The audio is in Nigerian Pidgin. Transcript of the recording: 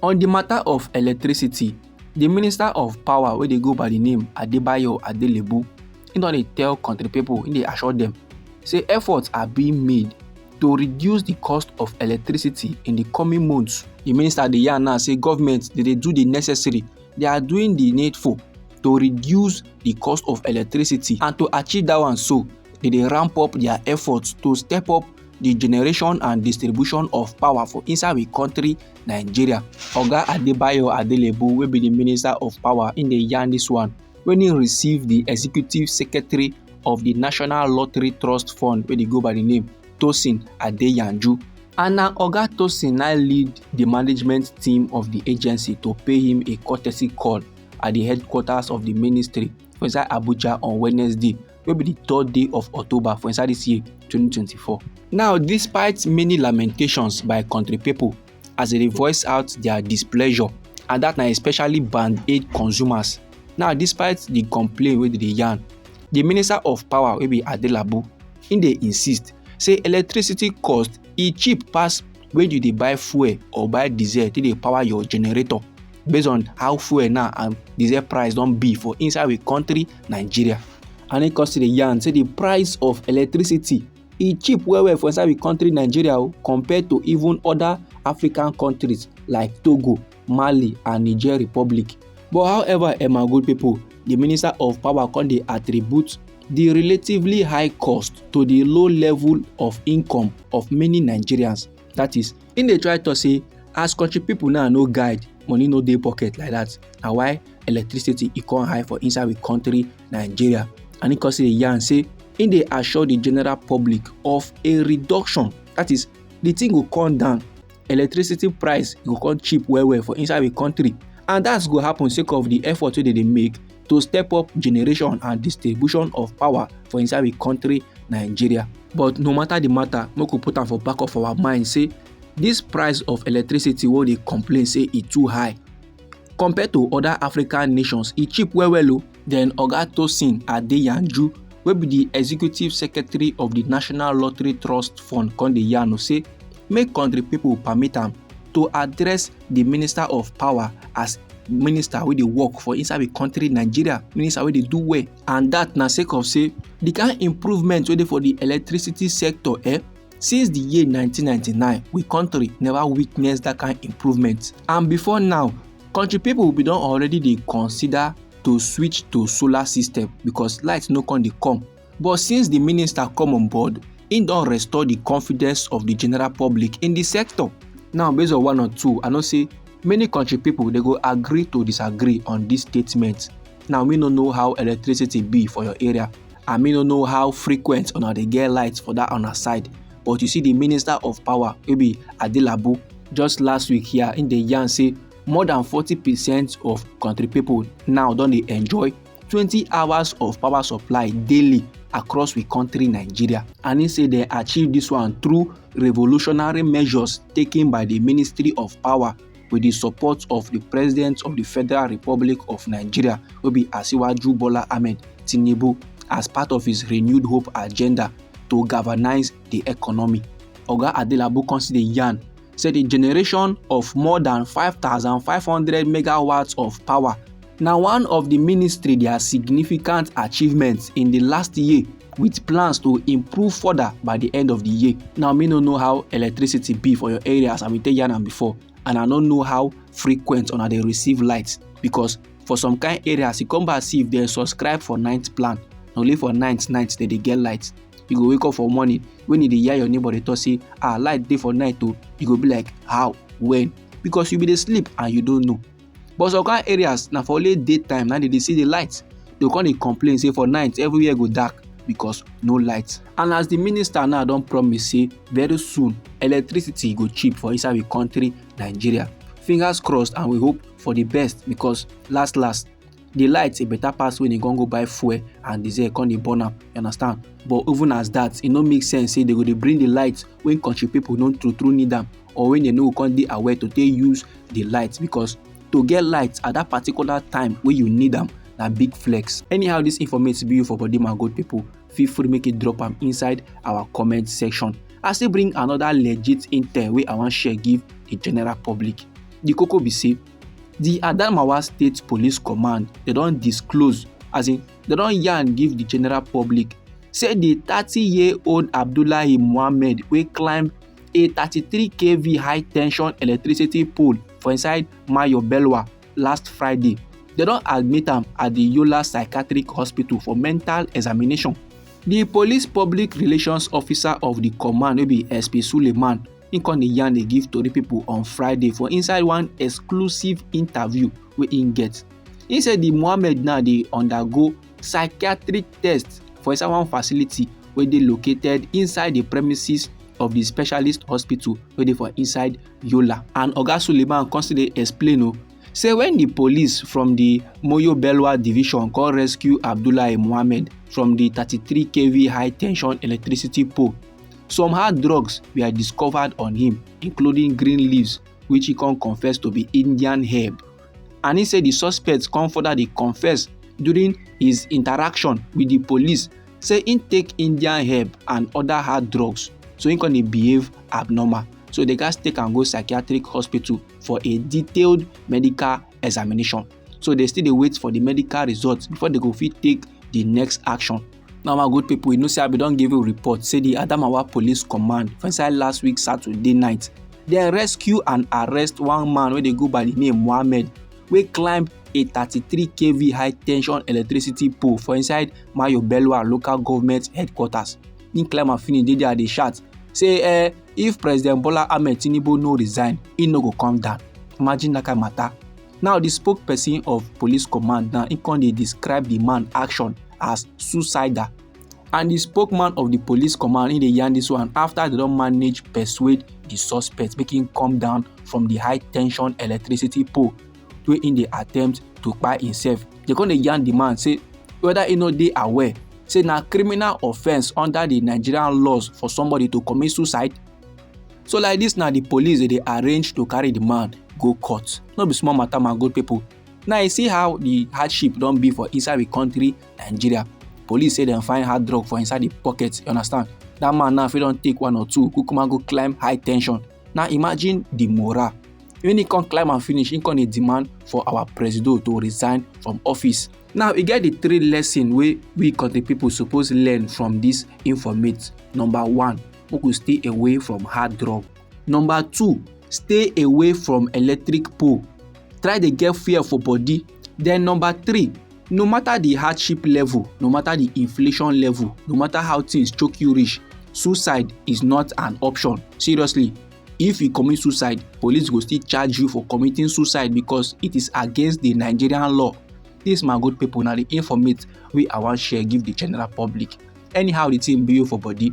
On di mata of electricity, di minister of power wey dey go by di name Adebayo Adelebu, im don dey tell kontri pipo, im dey assure dem say efforts are being made to reduce di cost of electricity in di coming months. Di minister dey yarn now say government dey dey do di necessary, they are doing di needful to reduce di cost of electricity and to achieve dat one so, dey dey ramp up dia efforts to step up. the generation and distribution of power for inside we country nigeria oga adebayo adelebu wey be the minister of power in the yarn this one when he received the executive secretary of the national lottery trust fund wey dey go by the name tosin adeyanju and na oga tosin now lead the management team of the agency to pay him a courtesy call at the headquarters of the ministry for inside abuja on wednesday wey be di third day of october for inside dis year 2024 now despite many lamentations by country pipo as dem dey voice out dia displeasure and dat na especially band aid consumers now despite di complain wey dem dey yarn di minister of power wey be adelabu im dey insist say electricity cost e cheap pass when you dey buy fuel or buy diesel take dey power your generator based on how fuel now and diesel price don be for inside we country nigeria and e come still dey yarn say the price of electricity e cheap well well for inside we country nigeria o oh, compared to even other african countries like togo mali and niger republic but however emma good pipo di minister of power come dey attribute di relatively high cost to di low level of income of many nigerians that is im dey try to say as country pipo now no guide money no dey pocket like that na why electricity e come high for inside we country nigeria and im come say yarn say im dey assure di general public of a reduction that is di thing go come down electricity price go come cheap well well for inside the country and that's go happen sake of the effort wey dem dey make to step up generation and distribution of power for inside the country nigeria but no matter the matter make we put am for back of our mind say this price of electricity wey dey complain say e too high compared to other african nations e cheap well well o oh. Then Oga Tosin Adeyanju wey be di executive secretary of di National Lottery Trust Fund come dey yarn say make country pipo permit am to address di minister of power as minister wey dey work for inside di country nigeria minister wey dey do well and dat na sake of say di kain improvement wey dey for di electricity sector eh since di year 1999 we country never witness dat kain improvement and before now Country people bin don already dey consider to switch to solar system because light no come dey come. But since the minister come on board, im don restore the confidence of the general public in the sector. Now based on one or two, I know say many country people dey go agree to disagree on this statement. Now me no know how electricity be for your area and me no know how frequent una dey get light for that una side. but you see the minister of power wey be adelabu just last week here im dey yarn say more than forty percent of country people now don dey enjoy twenty hours of power supply daily across we country nigeria and im say dem achieve this one through revolutionary measures taken by the ministry of power with di support of di president of di federal republic of nigeria wey be asiwaju bola ahmed tinubu as part of his renewed hope agenda to galvanize di economy oga adelabu come still dey yarn say di generation of more dan 5500 megawatts of power na one of di ministry dia significant achievements in di last year with plans to improve further by di end of di year now me no know how electricity be for your area as i bin tell yarn am before and i no know how frequent una dey receive light because for some kind areas e come back see if dem subscribe for night plan na only for night night dem dey get light you go wake up for morning when you dey hear your neighbor dey talk say ah light dey for night o oh. you go be like how when because you be dey sleep and you don't know but some kind areas na for only day time na dem dey see the light dem come dey complain say for night everywhere go dark because no light and as the minister now don promise say very soon electricity go cheap for inside the country nigeria fingers crossed and we hope for the best because last last the light e better pass when e come go buy fuel and diesel come dey burn am you understand but even as that e no make sense say they go dey bring the light when country people no true true need am or when dem no go come dey aware to take use the light because to get light at that particular time wey you need am na big flex anyhow this informate be you for body my good people feel free make you drop am inside our comment section i still bring another legit intel wey i wan share give the general public the koko be say the adamawa state police command they don disclose as in they don yarn give the general public say the thirty year old abdullahi mohammed wey climb a 33 kv high tension electricity pole for inside Mayo Belwa last Friday. They don admit am at the Yola Psychiatric Hospital for mental examination. The police public relations officer of the command wey be SP Suleiman im come dey yarn dey give tori pipo on friday for inside one exclusive interview wey im get im say di mohammed now dey undergo psychiatric test for inside one facility wey dey located inside di premises of di specialist hospital wey dey for inside yola and oga suleiman come still dey explain o oh, say when the police from the moyo belwa division come rescue abdullahi mohammed from the 33 kv high tension electricity pole some hard drugs were discovered on him including green leaves which he come confess to be indian herb and he say the suspect come further dey confess during his interaction with the police say he take indian herb and other hard drugs so he come dey behave abnormal so they gats take am go psychiatric hospital for a detailed medical examination so they still dey wait for the medical results before they go fit take the next action Now my good people, you know say I be don give you report say the Adamawa Police Command for inside last week Saturday night, dem rescue and arrest one man wey dey go by the name Mohammed wey climb a 33 kv high tension electricity pole for inside Mayo Belwa local government headquarters. He climb am finish dey there dey shout say eh, if President Bola Ahmed Tinubu no resign, he no go come down. Imagine that kind matter. now di spokesperson of police command now im come dey describe di man action as suicidal and di spokesman of di police command im dey yarn dis one afta dem don manage persuade di suspect make im come down from di high tension electricity pole wey im dey attempt to kpai imsef dem come dey yarn di man say whether e no dey aware say na criminal offence under di nigerian laws for somebody to commit suicide so like this na the police dey dey arrange to carry the man go court no be small matter my good people now you see how the hardship don be for inside the country nigeria police say dem find hard drug for inside the pocket you understand that man now fit don take one or two kukuma go climb high tension now imagine the morale when he come climb am finish he come dey demand for our presido to resign from office now e get the three lesson wey we country people suppose learn from this informate number one make we stay away from hard drug number two stay away from electric pole try dey get fear for body then number three no matter the hardship level no matter the inflation level no matter how things choke you reach suicide is not an option seriously if you commit suicide police go still charge you for committing suicide because it is against the nigerian law this my good people na the informate wey i wan share give the general public anyhow the thing be you for body